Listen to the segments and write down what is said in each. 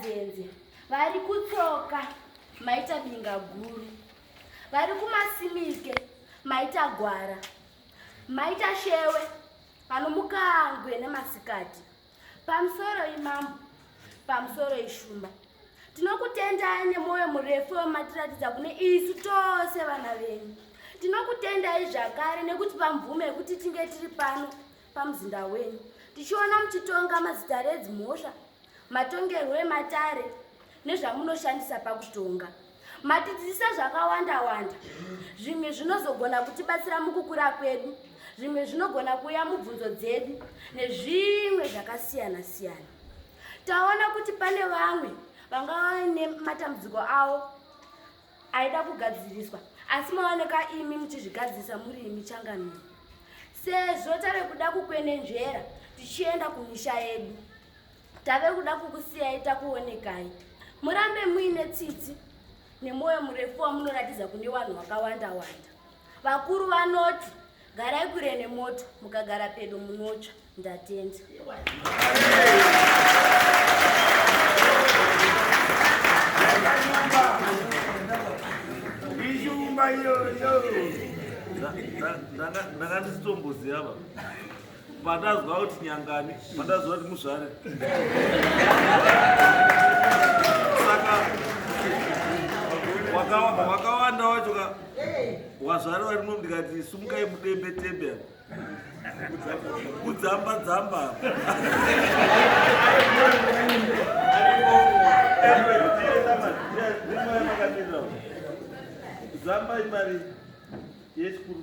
Zenze vari kutsoka maita binga guru, vari kumasimike maita gwara, maita shewe panomukangwe nemasikati, pamusoro imambo, pamusoro ishumba. Tinokutendai nemwoyo murefu wamatiratidza kune isu tose vana venyu. Tinokutendai zvakare nekutipa mvumo yekuti tinge tiri pano pamuzinda wenyu tichiona muchitonga mazita redzi mhosva matongerwo ematare nezvamunoshandisa pakutonga matidzidzisa zvakawanda wanda zvimwe zvinozogona kutibatsira mukukura kwedu zvimwe zvinogona kuuya mubvunzo dzedu nezvimwe zvakasiyana siyana taona kuti pane vamwe vangava nematambudziko avo aida kugadziriswa asi maoneka imi muchizvigadzirisa muri imi changamire sezvo tave kuda kukwenenzvera tichienda kumisha yedu tave kuda kukusiyai takuonekai murambe muine tsitsi nemwoyo murefu wamunoratidza kune vanhu vakawanda wanda vakuru vanoti Garai kure nemoto, mukagara pedo munotsva. Ndatenda. Ishumba iyoyo. Ndakati sitomboziva baba. Pandanzwa kuti nyangani, pandanzwa kuti muzvare. Saka wakawanda wakawanda wacho ka wazvare vari muno ndikati sumukai mudembe tembe kudzamba dzamba zamba imari yechikuru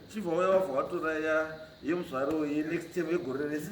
chibva uya wabva watora ya yemuzvare uye next time yegore rese